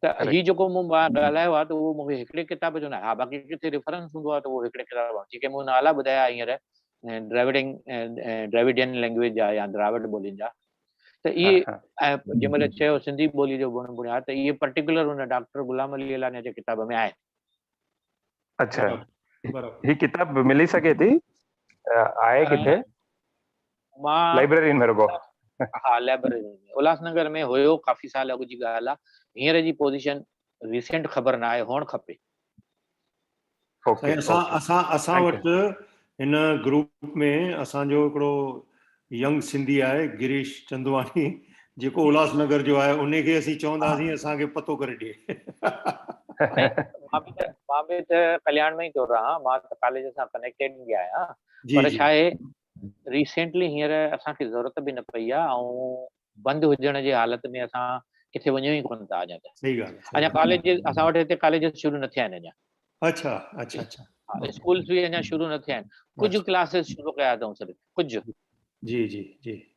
ته هي جيڪو مون ڳالهايو آهي ته اهو مون کي هڪڙي ڪتاب جو نه ها باقي ڪٿي ريفرنس هوندو آهي ته اهو هڪڙي ڪتاب جيڪي مون نالا ٻڌايا هينئر ڊرائيوڊنگ ڊرائيوڊين لينگويج جا يا دراوڊ ٻولين جا ته اهي ۽ جنهن مهل چيو سنڌي ٻولي جو بڻ بڻيا ته اهي پرٽيڪولر هن ڊاڪٽر غلام علي علانيا جي ڪتاب ۾ آهن اچھا هي ڪتاب ملي سگهي ٿي آهي ڪٿي مان لائبريرين ۾ رڳو. ها لائبريرين ۾ الهاس نگر ۾ هيو ڪافي سال اڳ جي ڳالهه آ هينئر جي پوزيشن ريسينٽ خبر نه آهي هئڻ کپي. سائين اسان اسان اسان وٽ هن گروپ ۾ اسان جو هڪڙو ينگ سنڌي آهي گريش چندواڻي جيڪو الهاس نگر جو آهي انهي کي اسين چونداسين اسان کي پتو ڪري ڏي. مان به مان به ته ڪلياڻ ۾ ئي ٿو رهان مان ته ڪاليج سان ڪنيڪٽيڊ ئي آهيان پر ڇا آهي ريسينٽلي هينئر اسان کي ضرورت به نه پئي آهي ۽ بند هجڻ جي حالت ۾ اسان ڪٿي وڃون ئي ڪونه ٿا اڃا ته صحيح ڳالهه آهي اڃا ڪاليج اسان وٽ هتي ڪاليج شروع نه ٿيا آهن اڃا اڇا اڇا اڇا اسڪولز به اڃا شروع نه ٿيا آهن ڪجهه ڪلاسز شروع ڪيا اٿئون صرف ڪجهه جي جي جي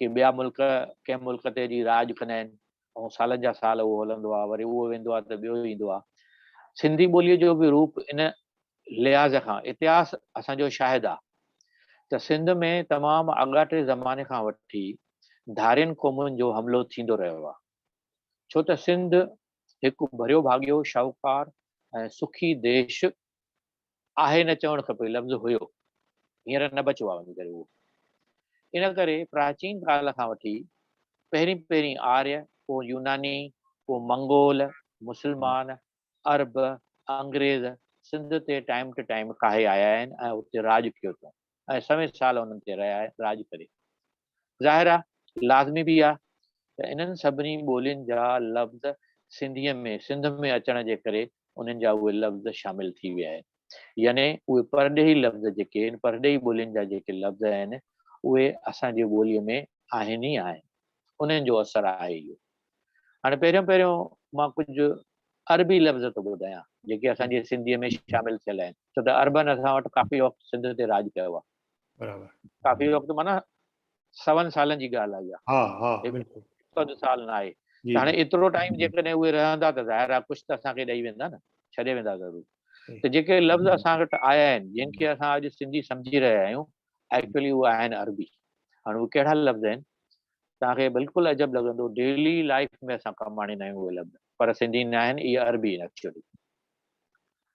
ڪي ٻيا ملڪ ڪنهن ملڪ تي جي راڄ ڪندا آهن ۽ سالن جا سال اهو هلندو آهي وري اهو ويندو آهي ته ٻيو ايندو آهي سنڌي ٻوليء جو به روپ ان لحاظ کان اتهاس اسان جو شاهد آهي ته سنڌ ۾ تمام آڳاٽي زماني کان وٺي ڌارين قومن جو حملو ٿيندو رهيو آهي ڇو ته سنڌ هڪ ڀريو ڀاڳيو شاهوڪار ۽ سکي ديش آهي نه چوڻ کپي لفظ هيو هينئر نه بچو آ وڃي ڪري اهو ان ڪري پراچين ڪال کان وٺي پهرين پهرين آريء پوء يوناني پوء منگول مسلمان عرب انگريز سنڌ تي ٽائيم ٽو ٽائيم ڪاهي آيا آهن ۽ اتي راڄ ڪيو اٿون ۽ سوين سال انهن تي رهيا ۽ راڄ ڪري. ظاهر آ لازمي به آ ته انهن سڀني ٻولين جا لفظ سنڌيء ۾ سنڌ ۾ اچڻ جي ڪري انهن جا اهي لفظ شامل ٿي ويا آهن. يعني اهي پرڏيهي لفظ جيڪي ان پرڏيهي ٻولين جا جيڪي لفظ آهن اهي اسان جي ٻوليء ۾ آهن ئي آهن. انهن جو اثر آهي اهو. هاڻي پهريون پهريون مان ڪجهه عربي لفظ ٿو ٻڌايان، جيڪي اسان جي سنڌيء ۾ شامل ٿيل آهن، ڇو ته عربن اسان وٽ ڪافي وقت سنڌ تي راڄ ڪيو آهي. برابر. ڪافي وقت معنيٰ سون سالن جي ڳالهه آهي اها. ها ها بلڪل. هڪ اڌ سال نه آهي. جي ته هاڻي ايترو ٽائيم جيڪڏهن اهي رهندا ته ظاهر آهي ڪجهه ته اسان کي ڏئي ويندا نه، ڇڏي ويندا ضرور. ته جيڪي لفظ اسان وٽ آيا آهن، جن کي اسان اڄ سنڌي سمجهي رهيا آهيون، ايڪچوئلي اهي آهن عربي. هاڻي اهي ڪهڙا لفظ آهن؟ توهان کي بلڪل عجب لڳندو ڊيلي لائيف ۾ اسان ڪم آڻيندا آهيون اهي لفظ پر سنڌي نه آهن اهي عربي آهن ايڪچولي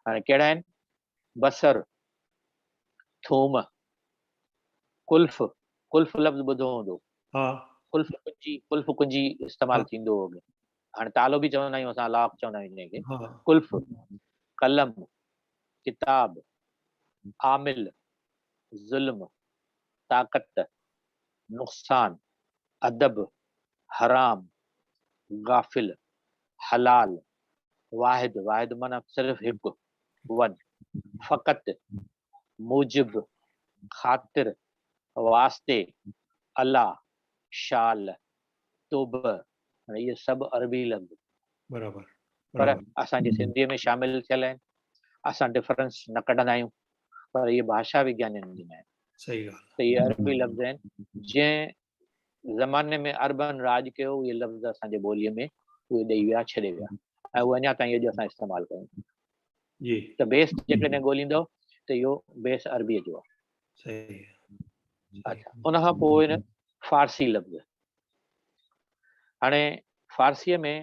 هاڻي ڪهڙا آهن بصر ٿوم ڪلف ڪلف لفظ ٻڌو هوندو ها ڪلف ڪنجي ڪلف ڪنجي استعمال ٿيندو هو هاڻي تالو به چوندا آهيون اسان لاک چوندا آهيون جنهن کي ڪلف قلم ڪتاب عامل ظلم، طاقت، نقصان، ادب، حرام، غافل، حلال، واحد، واحد معنيٰ صرف هڪ، ون، فقط، موجب، خاطر، واسطي، علا، شال، توبه، معنيٰ اهي سڀ عربي لفظ پر اسان جي سنڌيء ۾ شامل ٿيل آهن. اسان ڊفرنس نه ڪڍندا آهيون. پر اهي ڀاشا وگيانين جي ناهن. صحيح ڳالهه آهي. ته اهي عربي لفظ آهن. جنهن زماني ۾ عربن راڄ ڪيو اهي لفظ اسان جي ٻوليء ۾ اهي ڏئي ويا ڇڏي ويا ۽ اهي اڃا تائين اڄ اسان استعمال ڪيون ٿا. جي. ته بيس جيڪڏهن ڳوليندؤ ته اهو بيس عربيء جو آهي. صحيح آهي. اچا ان کان پوء اهي فارسي لفظ. هاڻي فارسيء ۾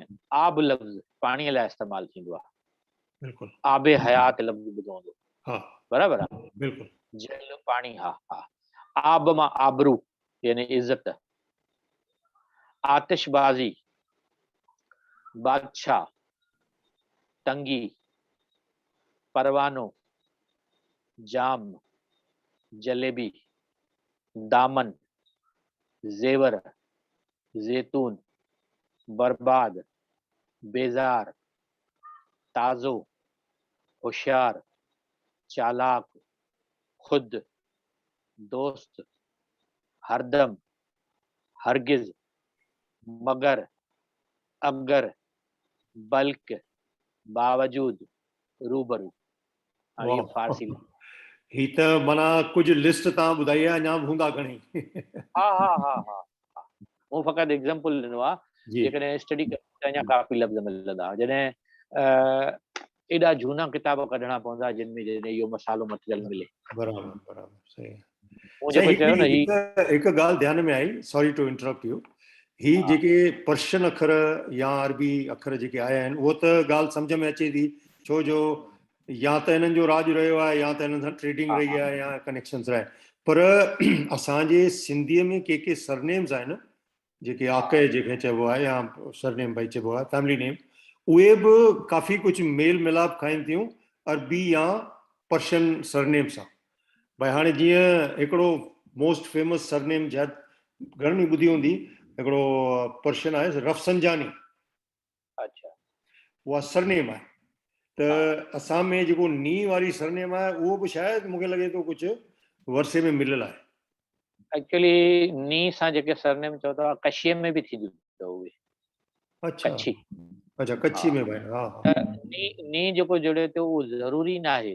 آب لفظ پاڻيء لاء استعمال ٿيندو آهي. بلڪل آب حيات لفظ ٻڌو هوندو ها برابر آ بلڪل جل پاڻي ها ها آب مان آبرو يعني عزت آتش بازي بادشاھ تنگي پروانو جام جليبي دامن زيور زيتون برباد بيزار تازو، هوشيار، چالاڪ، خود، دوست، هردم، هرگز، مگر، اگر، بلڪ، باوجود، روبرو. هي ته معنيٰ ڪجهه لسٽ تان ٻڌائي آهي اڃا به هوندا گهڻي. ها ها ها ها مون فقط ايگزامپل ڏنو آ جيڪڏهن اسٽڊي ڪري ته اڃا ڪافي لفظ ملندا جڏهن ايڏا جهونا ڪتاب ڪڍڻا پوندا جن ۾ جڏهن اهو مسالو مٽيريل ملي. برابر برابر صحيح. هڪ ڳالهه ڌيان ۾ آئي ساري ٽو انٽرپٽ يو هي جيڪي پرشن اکر يا عربي اکر جيڪي آيا آهن اهو ته ڳالهه سمجھ ۾ اچي ٿي ڇو جو يا ته هنن جو راڄ رهيو آهي يا ته هنن سان ٽريڊنگ رهي آهي يا ڪنيڪشنز رهيا پر اسان جي سنڌي ۾ ڪي ڪي سرنيمز آهن جيڪي آڪي جيڪي چئبو آهي يا سرنيم بھي چئبو آهي فيملي نيم اهي به ڪافي ڪجهه ميل ملاپ کائين ٿيون عربي يا پرشن سرنيم سان بھي هاڻي جيئن هڪڙو موسٽ فيمس سرنيم جد گھڻن ٻڌي هوندي هڪڙو پرشن آهي رفسنجاني اچھا اها سرنيم آهي ته اسان ۾ جيڪو ني واري سرنيم آهي اهو به شايد مونکي لڳي ٿو ڪجهه ورثي ۾ مليل آهي ايڪچولي ني سان جيڪي سرنيم چئو ٿا ڪشي ۾ به ٿينديون اٿو اهي اچھا اچھا ڪڇي ۾ به ها ني ني جيڪو جڙي ٿو اهو ضروري ناهي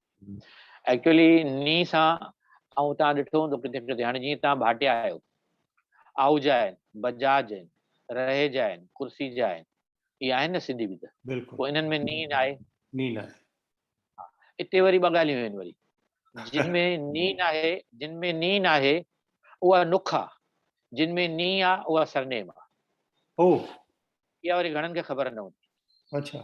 ايڪچوئلي ني سان آئون تان ڏٺو هوندو ڪٿي ڪٿي هاڻي جيئن تان ڀاٽيا آهيو آهوجا آهن بجاج آهن رهيجا آهن ڪرسيجا آهن اهي آهن نه سنڌي به ته بلڪل پوء انهن ۾ ني ناهي ني ناهي اتي وري ٻه ڳالهيون آهن وري جن ۾ ني ناهي جن ۾ ني ناهي اها نک آ جن ۾ ني آ اها سرنيم آ او اها وري گهڻن کي خبر نه هوندي اڇا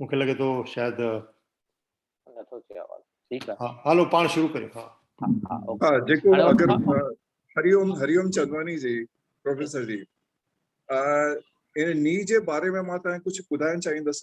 مون کي لڳي ٿو شايد نٿو ٿئي آواز ٺيڪ آهي ها هلو پاڻ شروع ڪريو ها ها اوڪي جيڪو اگر هريوم هريوم چندواني جي پروفيسر جي ان ني جي باري ۾ مان تان ڪجهه ٻڌائڻ چاهيندس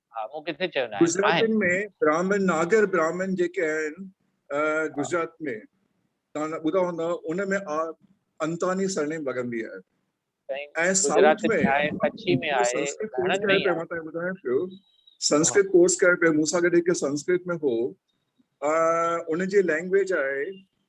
ها مون ڪٿي چيو ناهي. گجراتين ۾ براهمن ناگر براهمن جيڪي آهن گجرات ۾ توهان ٻڌا هوندا ان ۾ آ انتاني سرنيم لڳندي آهي ۽ سائوٿ ۾ ڪڇي ۾ آهي گهڻن ۾ آهي متان ٻڌايان پيو سنسڪرت ڪورس ڪري پيو مون سان گڏ هڪ سنسڪرت ۾ هو ان جي لينگويج آهي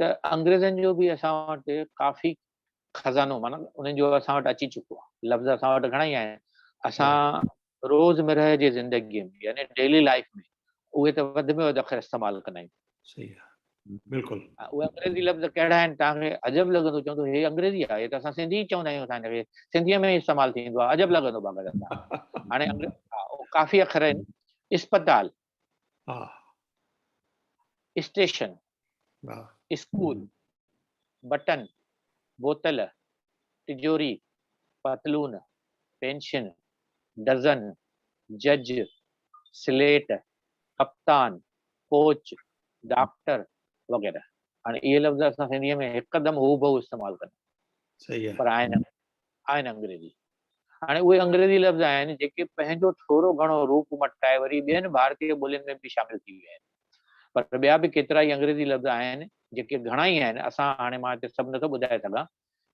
ته انگريزن جو به اسان وٽ ڪافي خزانو معنيٰ انهن جو اسان وٽ اچي چڪو آهي لفظ اسان وٽ گهڻا ئي آهن اسان روزمرهه جي زندگي ۾ يعني ڊيلي لائف ۾ اهي ته وڌ ۾ وڌ اکر استعمال ڪندا آهيون صحيح آهي بلڪل اهي انگريزي لفظ ڪهڙا آهن توهان کي عجب لڳندو چوندو هي انگريزي آهي هي ته اسان سنڌي چوندا آهيون اسان کي سنڌي ۾ استعمال ٿيندو آهي عجب لڳندو باقاعده هاڻي ڪافي اکر آهن اسپتال ها اسٽيشن ها اسڪول بٽن بوتل تجوري پتلون پينشن ڊزن جج سليٽ ڪپتان ڪوچ ڊاڪٽر وغيره هاڻي اهي لفظ اسان سنڌي ۾ هڪدم هوبهو استعمال ڪندا آهيون پر آهن آهن انگريزي هاڻي اهي انگريزي لفظ آهن، جيڪي پنهنجو ٿورو گهڻو روپ مٽائي وري ٻين ڀارتي ٻولين ۾ به شامل ٿي ويا آهن. پر ٻيا به ڪيترائي انگريزي لفظ آهن، جيڪي گهڻائي آهن، اسان هاڻي مان هتي سڀ نٿو ٻڌائي سگهان،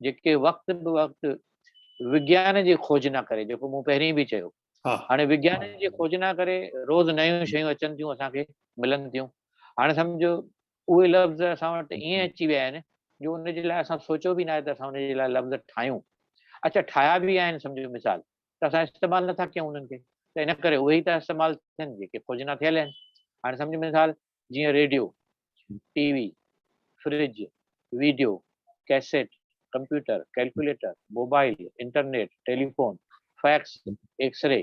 جيڪي وقت به وقت وگيان جي کوجنا ڪري، جيڪو مون پهرين به چيو، هاڻي وگيان جي کوجنا ڪري روز نيون شيون اچن ٿيون، اسان کي ملن ٿيون. هاڻي سمجهو اهي لفظ اسان وٽ ائين اچي ويا آهن جو ان جي لاء اسان سوچيو به ناهي ته اسان ان جي لاء لفظ ٺاهيون اچا ٺاهيا به آهن سمجهو مثال ته اسان استعمال نٿا ڪيون انهن کي ته ان ڪري اهي ئي ٿا استعمال ٿين جيڪي کوجنا ٿيل آهن هاڻي سمجهو مثال جيئن radio T V fridge video cassette computer calculator mobile internet telephone fax X ray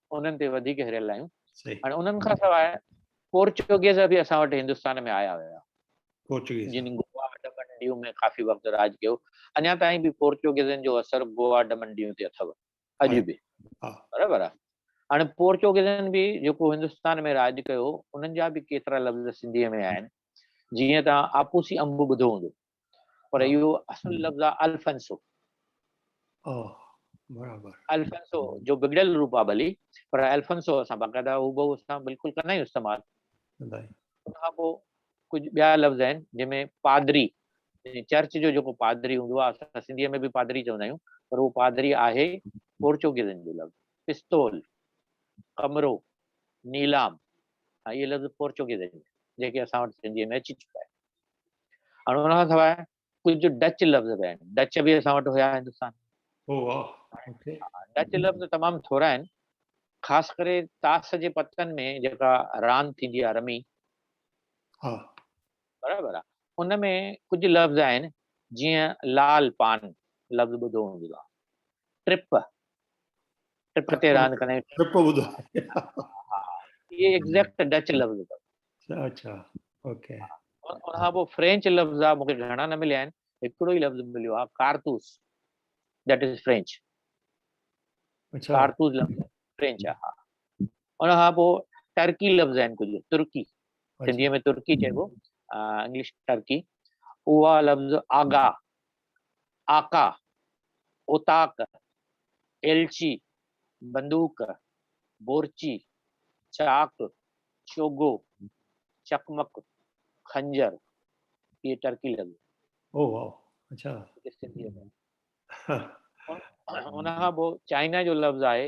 انهن تي وڌيڪ هريل آهيون هاڻي انهن کان سواء پورچوگيز به اسان وٽ هندستان ۾ آيا هيا پورچوگيز جن گوا ڊمنڊيو ۾ ڪافي وقت راڄ ڪيو اڃا تائين به پورچوگيزن جو اثر گوا ڊمنڊيو تي اٿو اڄ به برابر آهي هاڻي پورچوگيزن به جيڪو هندستان ۾ راڄ ڪيو انهن جا به ڪيترا لفظ سنڌي ۾ آهن جيئن تان آپوسي انب ٻڌو هوندو پر اهو اصل لفظ آهي الفنسو. الفنسو جو بگڙيل روپ آهي ڀلي پر الفنسو اسان باقاعده هوبهو اسان بلڪل ڪندا آهيون استعمال. ان کان پوء ڪجهه ٻيا لفظ آهن جن ۾ پادري چرچ جو جيڪو پادري هوندو آهي اسان سنڌي ۾ به پادري چوندا آهيون پر اهو پادري آهي پورچوگيزن جو لفظ پستول ڪمرو نيلام اهي لفظ پورچوگيزن جيڪي اسان وٽ سنڌي ۾ اچي چڪا آهن. هاڻ ان کان سواء ڪجهه ڊچ لفظ به آهن ڊچ به اسان وٽ هيا هندستان ڊچ لفظ تمام ٿورا آهن خاص ڪري تاس جي پتن ۾ جيڪا راند ٿيندي آهي رمي برابر آهي ان ۾ ڪجهه لفظ آهن جيئن لال پان لفظ ٻڌو هوندو آهي ٽرپ ٽرپ تي راند ڪرڻ ٽرپ ٻڌو اهي ايگزيڪٽ ڊچ لفظ اٿس اچھا اوڪي ان کان پوء فرينچ لفظ آ مون کي گهڻا نه مليا آهن هڪڙو ئي لفظ مليو آ ڪارتوس ذيٽ از فرينچ اچھا ڪارتوس لفظ فرينچ آ ها ان کان پوء ٽرڪي لفظ آهن ڪجهه ترڪي سنڌي ۾ ترڪي چئبو انگلش ٽرڪي اها لفظ آگا آقا، اوطاق، ايلچي، بندوق، بورچي، چاڪ، چوگو، چقمق، خنجر، هيء ٽرڪي لڳ. او واء اڇا. ان کان پوء چائنا جو لفظ آهي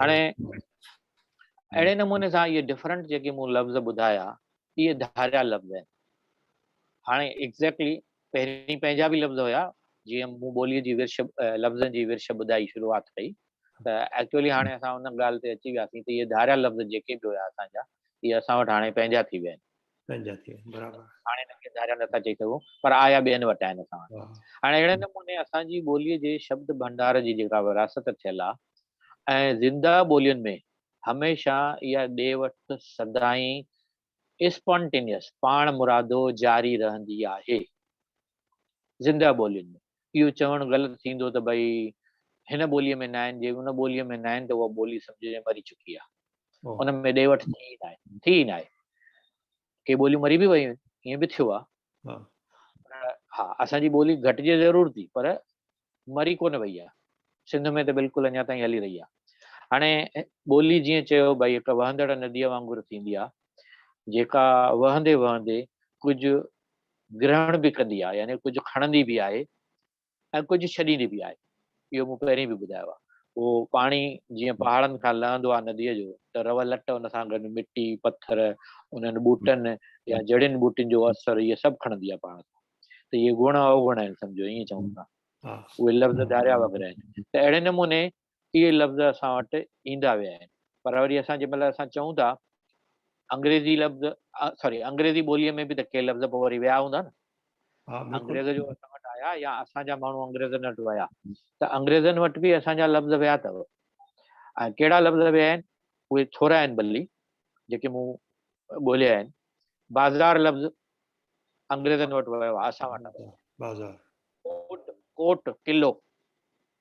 هاڻي اهڙي نموني سان اهي ڊفرنٽ جيڪي مون لفظ ٻڌايا اهي ڌاريا لفظ آهن هاڻي ايگزيڪٽلي پهرين پنهنجا به لفظ هيا جيئن مون ٻوليء جي ورش لفظن جي ورش ٻڌائي شروعات ڪئي ته ايڪچولي هاڻي اسان ان ڳالهه تي اچي وياسين ته اهي ڌاريا لفظ جيڪي به هيا اسان جا اهي اسان وٽ هاڻي پنهنجا ٿي ويا آهن پنهنجا ٿي ويا آهن برابر. هاڻي هنن کي ڌاريا نٿا چئي سگهون پر آيا ٻين وٽ آهن اسان وٽ واهه. هاڻي اهڙي نموني اسان جي ٻوليء جي شبد ڀنڊار جي جيڪا ورهاست ٿيل آهي ۽ زنده ٻولين ۾ هميشه اها ڏي وٺ سدائين Spontaneous پاڻ مرادو جاري رهندي آهي زنده ٻولين ۾. اهو چوڻ غلط ٿيندو ته ڀئي هن ٻوليء ۾ ناهن، جي ان ٻوليء ۾ ناهن ته اها ٻولي سمجهجي مري چڪي آهي. ان ۾ ڏي وٺ ٿي ئي ناهي، ٿي ئي ناهي. ڪي ٻوليون مري به ويون آهن، ائين به ٿيو آهي. ها، اسان جي ٻولي گهٽجي ضرور ٿي پر مري ڪونه وئي آهي. سنڌ ۾ ته بلڪل اڃا تائين هلي رهي آهي. هاڻي ٻولي جيئن چيو ڀئي هڪ وهندڙ نديء وانگر ٿيندي آهي، جيڪا وهندي وهندي ڪجهه گرهڻ به ڪندي آهي يعني ڪجهه کڻندي به آهي ۽ ڪجهه ڇڏيندي به آهي اهو مون پهرين به ٻڌايو آهي اهو پاڻي جيئن پهاڙن کان لهندو آهي نديء جو ته روء لٽ ان سان گڏ مٽي پٿر انهن ٻوٽن يا جڙين ٻوٽين جو اثر اهي سڀ کڻندي آهي پاڻ سان ته اهي گڻ اوگڻ آهن سمجهو ائين چئون ٿا اهي لفظ ڌاريا وغيره آهن ته اهڙي نموني اهي لفظ اسان وٽ ايندا ويا آهن پر وري اسان جنهن مهل اسان چئون ٿا انگريزي لفظ سوري انگريزي ٻوليء ۾ به ته ڪي لفظ پوء وري ويا هوندا نه انگريز جو اسان وٽ آيا يا اسان جا ماڻهو انگريزن وٽ ويا ته انگريزن وٽ به اسان جا لفظ ويا اٿو ۽ ڪهڙا لفظ ويا آهن اهي ٿورا آهن بلي جيڪي مون ڳولهيا آهن بازار لفظ انگريزن وٽ ويو اسان وٽ بازار ڪوٽ ڪلو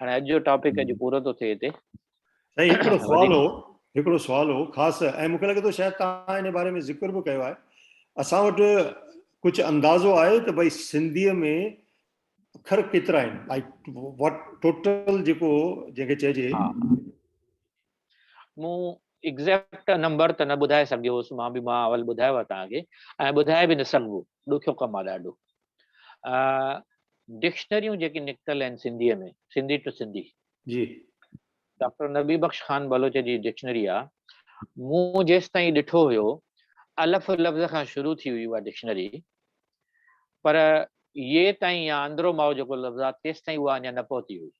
هاڻي اڄ جو ٽاپڪ اڄ پورو ٿو ٿئي هتي سائين هڪڙو سوال هو هڪڙو سوال هو خاص ۽ مونکي لڳي ٿو شايد توهان ان باري ۾ ذڪر به ڪيو آهي اسان وٽ ڪجهه اندازو آهي ته ڀائی سنڌي ۾ اکر ڪيترا آهن ٽوٽل جيڪو جنهن کي چئجي مون ايگزيڪٽ نمبر ته نه ٻڌائي سگهيو هوس مان به مان اول ٻڌايو آهي توهان کي ۽ ٻڌائي به نه سگهبو ڏکيو ڪم آهي ڏاڍو ڊڪشنريون جيڪي نڪتل آهن سنڌي ۾ سنڌي ٽو سنڌي جي ڊاڪٽر نبي بخش خان بلوچ جي ڊڪشنري آهي مون جيستائين ڏٺو هيو الف لفظ کان شروع ٿي هئي اها ڊڪشنري پر يي تائين يا اندرو ماء جيڪو لفظ آهي تيستائين اها اڃا نه پهتي هئي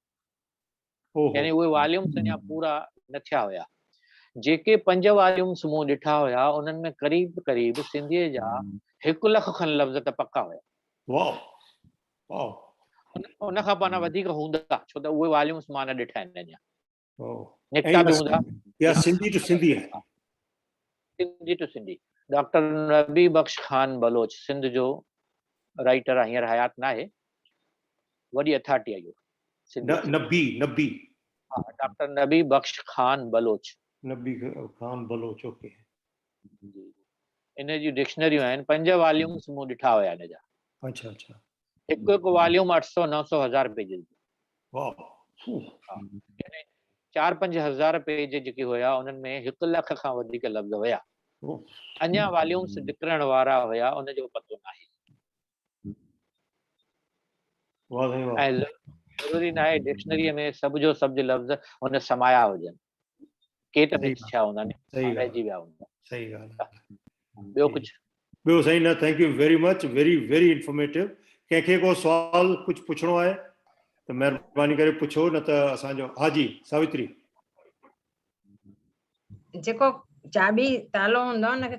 يعني اهي واليومس اڃا پورا نه ٿيا هيا. جيڪي پنج واليومس مون ڏٺا هيا، انهن ۾ قريب قريب سنڌيء جا هڪ لک کن لفظ ته پڪا هيا. ان کان پانا وڌيڪ هوندا، ڇو ته اهي واليومس مان نه ڏٺا آهن اڃا. نڪتا به هوندا. سنڌي ٽو سنڌي. ڊاڪٽر نبي بخش خان بلوچ سنڌ جو رائيٽر آ هينئر حيات ناهي وڏي اٿارٽي آ اهو سنڌي ٽو نبي نبي ها ڊاڪٽر نبي بخش خان بلوچ نبي خان بلوچ اوڪي جي ان جي ڊڪشنريون آهن پنج واليومس مون ڏٺا هيا ان جا اڇا اڇا هڪ هڪ واليوم اٺ سؤ نو سؤ هزار پيجز جو يعني چار پنج هزار پيج جيڪي هيا انهن ۾ هڪ لک کان وڌيڪ لفظ هيا اڃا واليومس نڪرڻ وارا هيا ان جو پتو ناهي ضروري ناهي ڊڪشنري ۾ سڀ جو سڀ لفظ هن سمايا هجن ڪيٽ ميٽ ٿيا هوندا ني رهجي ويا هوندا صحيح ڳالهه ٻيو ڪجهه ٻيو سائين نه thank you very much very very informative ڪنهن کي ڪو سوال ڪجهه پڇڻو آهي ته مهرباني ڪري پڇو نه ته اسان جو ها جي ساوتري جيڪو چاٻي تالو هوندو آهي ان کي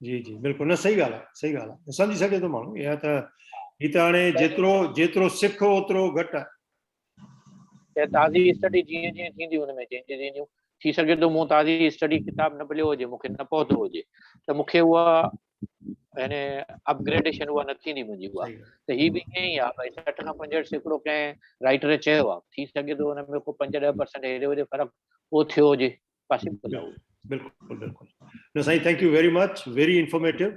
جي جي بلڪل نه صحيح ڳالهه آهي صحيح ڳالهه آهي سمجهي سگهي ٿو ماڻهو اها ته هي ته هاڻي جيترو جيترو سک اوترو گهٽ آهي تازي اسٽڊي جيئن جيئن ٿيندي ان ۾ چينجز اينديون ٿي سگهي ٿو مون تازي اسٽڊي ڪتاب نه مليو هجي مونکي نه پهتو هجي ته مونکي اها يعني اپگريڊيشن اها نه ٿيندي منهنجي اها ته هي به ائين ئي آهي ڀاء سٺ کان پنجهٺ سيڪڙو ڪنهن رائٽر چيو آهي ٿي سگهي ٿو هن ۾ ڪو پنج ڏهه پرسنٽ هيڏي هوڏي فرق پوء ٿيو هجي قاسم پنهور. بلڪل بلڪل نه سائين thank you very much very informative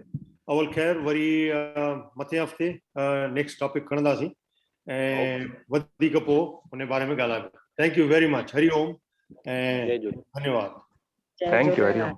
اول خير وري مٿين هفتي نيڪسٽ ٽاپڪ کڻنداسين ۽ وڌيڪ پوء ان باري ۾ ڳالهائبو thank you very much Hari Om ۽ ڌنيواد ٿينڪ يو هري اوم